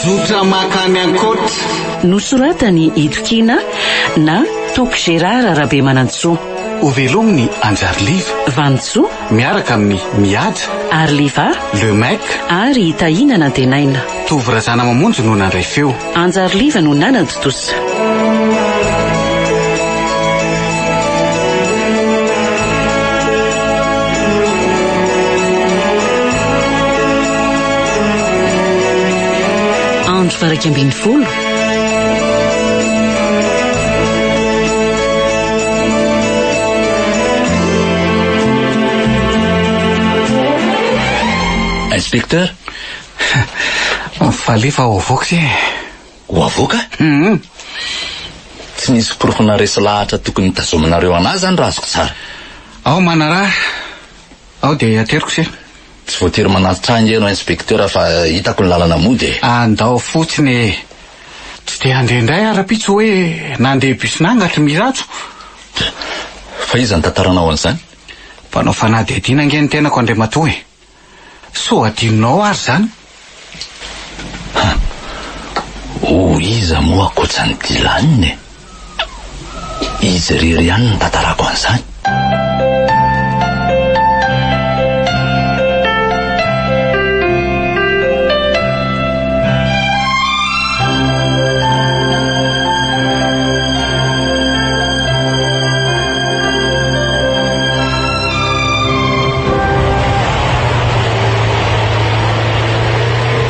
Zotra mankany ankoatra. Nosoratan'i Ido Kina na Toky Gérard Rabemanantsoa. Ho velomin'i Anjary Liva. Vanintsoa. Miaraka amin'i Mihaja. Ary Liva. Le Mec. Ary i Tahiana Nantenaina. Tovo Razanamamonjy no nandray feo. Hanjary Liva no nanan-tontosa. Andro faha iraika ambin'ny folo. Inspecteur. Alefa ho avoaka ity e. Ho avoaka? Hum. Tsy nisy porofo naharesy lahatra tokony tazominareo an'ahy izany raha azoko tsara. Ao manaraha. Ao dia ateriko ity. Tsy voatery manatitra ahy ange ianao inspektera fa hitako ny lalana mody e. Andao fotsiny e. Tsy dia handeha indray aho rahampitso hoe nandeha bus nangatry Mirajo. Fa iza nitantaranao an'izany? Mpanao fanadihadiana ange ny tenako Andriamatoa e. Sao hadinonao ary izany? Ha! Ho iza moa ankoatran'i Dylan e? Izy irery ihany no tantarako an'izany.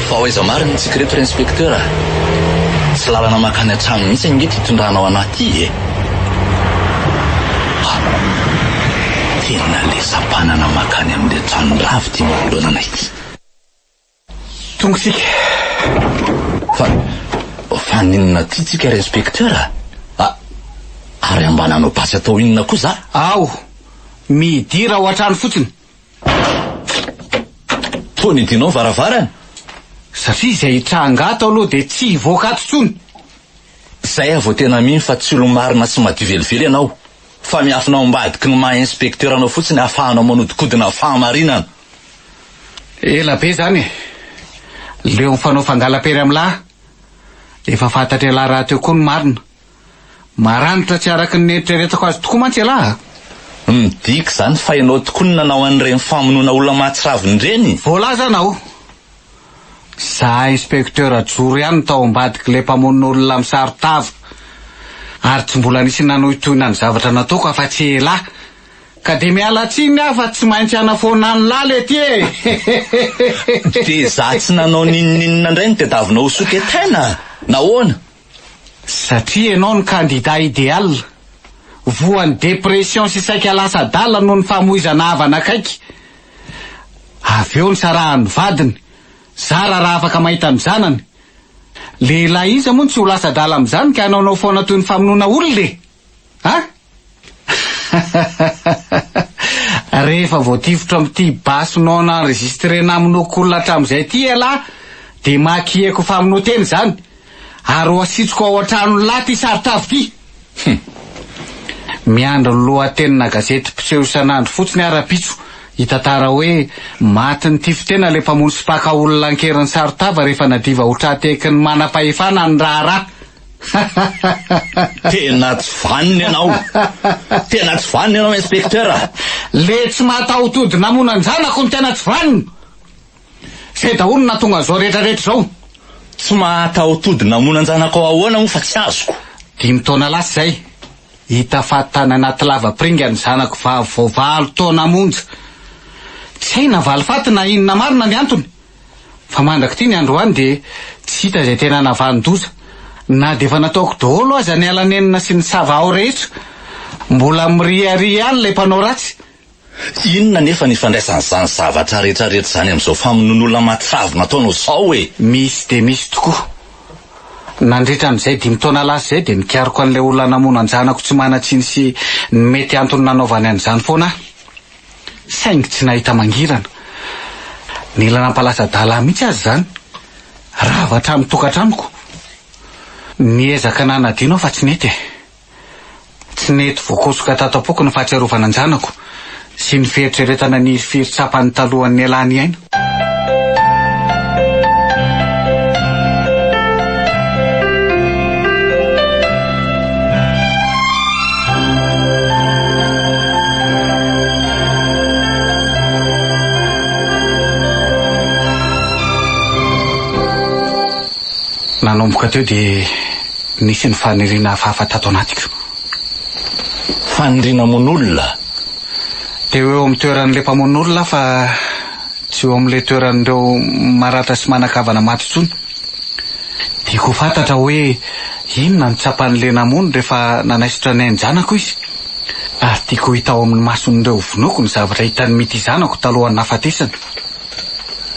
Fa aiza marina itsika ireto ry inspecteur a? Tsy lalana makany an-trano mihitsy ange ity tondrahanao anah ity e! Ha! Tena lesa-panana makany amin'ilay tranon-dravy ity manoloana anay ity. Tonga tsika. Fa fa ninona ty tsika ry inspecteur a? A ary ambana anao basy atao inona koa za? Ao, midira ao an-trano fotsiny. Toa nidinao ny varavarana? Satria izay tranga ato aloha dia tsy hivoaka ato intsony. Zay aho vao tena mino fa tsy olo-marina sy madio velively ianao. Fa miafina ao ambadiky ny maha inspecteur anao fotsiny ahafahanao manodikodina fahamarinana. Ela be zany e! Leo mifanao fangala-pery am lahy! Efa fantatr' elah rahateo koa ny marina! Maranitra tsy araky ny neritreretako azy tokoa mantsy elah a! Midika izany fa ianao tokoa no nanao an'ireny famonoana olona mahatsiravina ireny? Voalaza anao! Za inspecteur joro ihany tao ambadik'ilay mpamono olona misaro tava, ary tsy mbola nisy nanohitohina ny zavatra nataoko afa-tsy elah! Ka dia miala tsiny aho fa tsy maintsy hanafoana an'i Lala ety e! Dia izaho tsy nanao n'inon'inona indray no tadiavinao ho soketena? Nahoana? Satria ianao no kandida ideal. Voan'ny dépression sy saika lasa adala noho ny famoizana havana akaiky. Avy eo nisarahan'ny vadiny, zara raha afaka mahita ny zanany. Lehilahy iza moa no tsy ho lasa adala amin'izany ka hanaonao foana toy ny famonoana olona e! An? Rehefa voatifitra amin'ity basy non enregistré namonoako olona hatramin'izay ity ialahy dia makieko famonoan-tena izany ary ho asitsiko ao an-tranon'i Lahy ity saron-tavy ity. Hum. Miandry ny lohatenina gazety mpiseho isan'andro fotsiny aho rahampitso hitantara hoe maty nitifitena ilay mpamono sy mpaka olona ankerin'ny saron-tava rehefa nadiva ho tra-tekin'ny manam-pahefana ny raharaha. Tena tsy vanona ianao! Tena tsy vanona ianao inspecteur a! Le tsy mataho-tody namono an-janako no tena tsy vanona! Zay daholo no nahatonga an'izao rehetra rehetra izao! Tsy mahataho-tody namono an-janakao ahoana moa fa tsy azoko? Dimy taona lasa izay, hita fa tany anaty lavapiringa ny zanako vavy vao valo taona monja! Tsy hay na valifaty na inona marina ny antony! Fa mandrak'ity ny androany dia tsy hita izay tena navanon-doza. Na dia efa nataoko daholo aza ny ala-nenina sy ny sava ao rehetra, mbola miriaria ihany ilay mpanao ratsy. Inona anefa ny ifandraisan'izany zavatra rehetrarehetra izany amin'izao famonoan'olona matsavo nataonao izao e? Misy dia misy tokoa. Nandritra an'izay dimy taona lasa izay dia nikaroka an'ilay olona namono an-janako tsy manan-tsiny sy ny mety antony nanaovany an'izany foana aho. saingy tsy nahita mangirana. Nila nampalasa-dala ahy mihitsy aza izany. Rava hatramin'ny tokantranoko. Niezaka nanadino aho fa tsy nety e. Tsy nety voakosoka tato am-poko ny fahatsiarovana an-janako sy ny fieritreretana ny hiry tsapan'ny talohan'ny nialany aina. nanomboka teo dia nisy ny faniriana hafahafa tato anatiko. Faniriana mono olona. Dia ho eo amin'ny toeran'ilay mpamono olona aho fa tsy eo amin'ilay toeran'ireo maratra sy manan-kavana maty intsony. Tiako ho fantatra hoe inona no tsapan'ilay namono rehefa nanaisotra ny ain-janako izy. Ary tiako ho hita ao amin'ny mason'ireo ho vonoiko ny zavatra hitan'ny mitia zanako talohan'ny nahafatesany.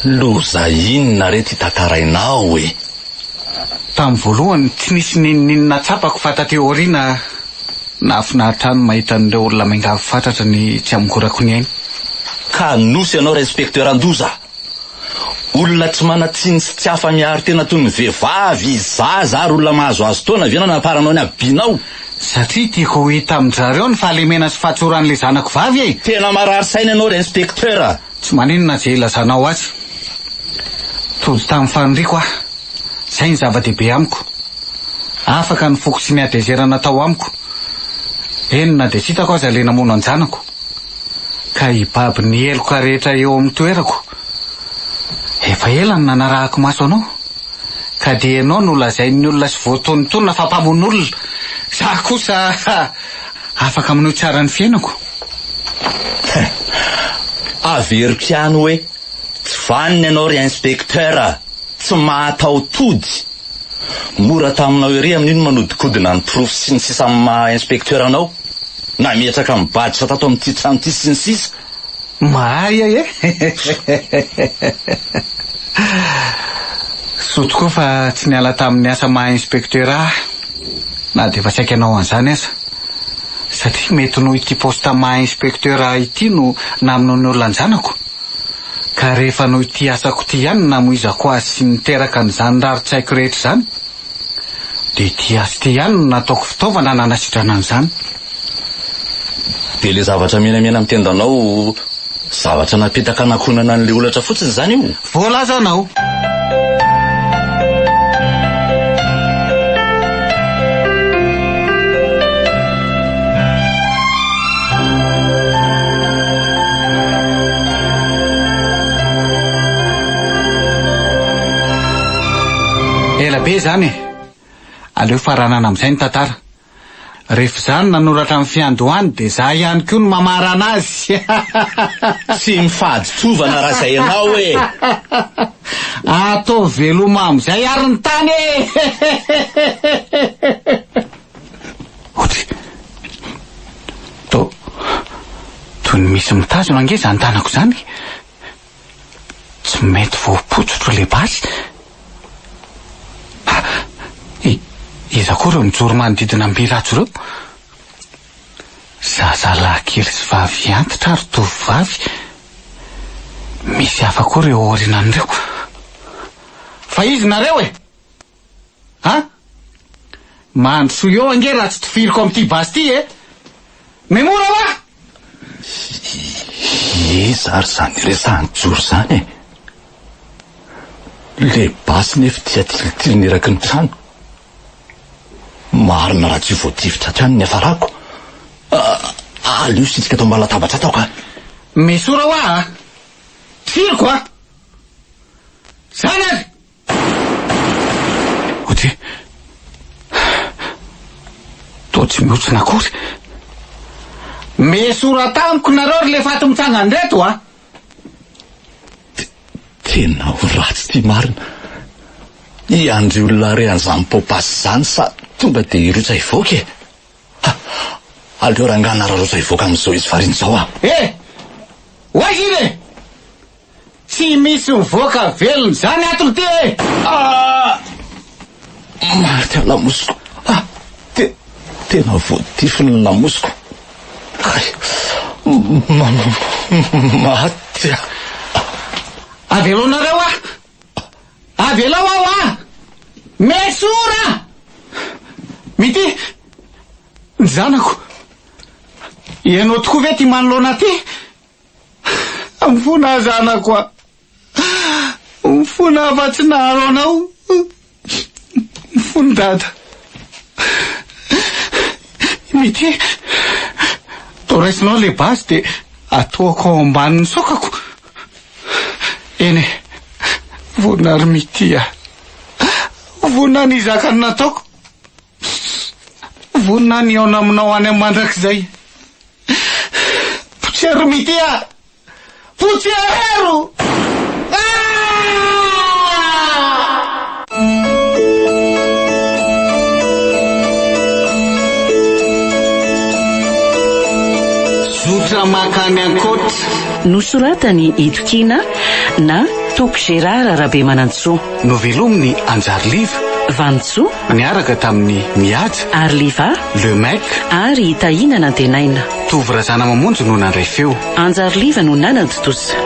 Loza inona re ity tantarainao e! Tamin'ny voalohany tsy nisy n'inon'inona tsapako fa taty aoriana. Nahafinaritra ahy ny mahita an'ireo olona miangavy fatratra ny tsy hamongorako ny ainy. Ka nosy ianao ra inspecteur an-doza! Olona tsy manan-tsiny sy tsy afa-miaro tena toy ny vehivavy, zaza ary olona mahazoazo taona ve no anamparanao ny habibianao? Satria tiako ho hita amin-dry zareo ny fahalemena sy fahatsoran'ilay zanako vavy e! Tena marary saina ianao ra inspecteur! Tsy maninona izay ilazanao azy. Tody tamin'ny faniriako aho. Izay no zava-dehibe amiko. Afaka ny foko tsy niadezerana tao amiko, eny na dia tsy hitako aza ilay namono an-janako. Ka hibaby ny heloka rehetra eo amin'ny toerako. Efa ela no nanarahako maso anao. Ka dia ianao no lazain'ny olona sy voatonontonona fa mpamono olona. Izaho kosa Afaka aminao tsara ny fiainako. Averiko ihany hoe tsy vanona ianao ry inspecteur a! Tsy mahataho-tody! Mora taminao ery amin'io ny manodikodina ny porofo sy ny sisa amin'ny maha inspecteur anao, nametraka ny baditra tato amin'ity trano ity sy ny sisa. Mahay a eh! Soa tokoa fa tsy niala tamin'ny asa maha inspektera aho na dia efa tsy haikanao an'izany aza. Satria mety noho ity poste maha inspektera ahy ity no namono ny olona an-janako. Ka rehefa noho ity asako ity ihany no namoizako azy sy niteraka an'izany rarintsaiko rehetra izany, Dia ity atsy ity ihany no nataoko fitaovana nanasitrana an'izany. Dia ilay zavatra menamena amin'ny tendanao, zavatra napetaka hanakonana an'ilay holatra fotsiny izany io? Voalazanao. Ela be izany e! Aleo faranana amin'izay ny tantara. Rehefa izaho no nanoratra ny fiandohany dia izaho ihany koa no mamarana azy. Tsy mifaditsovana raha izay ianao e! Ataovy veloma amin'izay ary ny tany e! Otry, to, toy ny misy mitazona ange izany tanako izany. Tsy mety voapotsotro le basy ah! I, iza koa reo mijoro manodidina am by rhajo reo? Zaza lahy kely sy vavy antitra ary tovovavy, misy hafa koa reo aorinan reo. Fa izy nareo e! Ha? Mandrosoa eo ange raha tsy tifiriko amin'ity basy ity e! Memora wa! Iza ary izany resahan'i Joro izany e? Ilay basy nefa ity atilitiliny eraky ny trano. Marina raha tsy voatifitra hatrany ny hafarako. Ah, aleo sitrika ato ambany latabatra ato aho ka. Mesora wa a! Tifiriko a! Zany ary! Ody. Toa tsy mihontsina akory. Mesora tamiko nareo ry lefaty mitsangana reto a! Tena ho ratsy ity marina. I Andry olona re an'izany popas izany sa tonga dia hirotsaka hivoaka e? Ha! Aleo rangahy nararotsaka hivoaka amin'izao izy variana izao a! Eh! Ho aiza iny e? Tsy misy mivoaka velona izany ato ry tia e! Ah! Maty ny lamosiko. Ah! Te, tena voatifiny ny lamosiko. Ay! Ma, maty aho. Aveloanareo aho! Avelao aho ah! Mesora! Mity! Ny zanako! Ianao tokoa ve ity manoloana ity? Mifona aho zanako a! Mifona aho fa tsy naharo anao! Mifona dada! Mity! Toa raisinao le basy de atoako ao ambanin'ny sokako! Eny e! Vonona ry Mity a! Vonona ny hizaka ny nataoko! Pss! Vonona ny hihaona aminao any amin'ny mandrakizay. Potsero mity ah! Potsero! Zotra mankany ankoatra. Nosoratan'i Ito Kina na Toky Gérard Rabemanantsoa. Novelomin'i Anjary Liva. Vanintsoa. Niaraka tamin'i Mihaja. Ary Liva. Lemec. Ary Tahina nantenaina. Tovo Razanamamonjy no nandray feo. Anjary Liva no nanantontosa.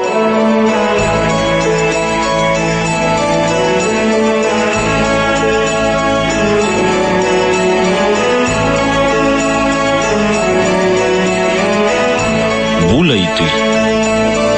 Mbola hitohy.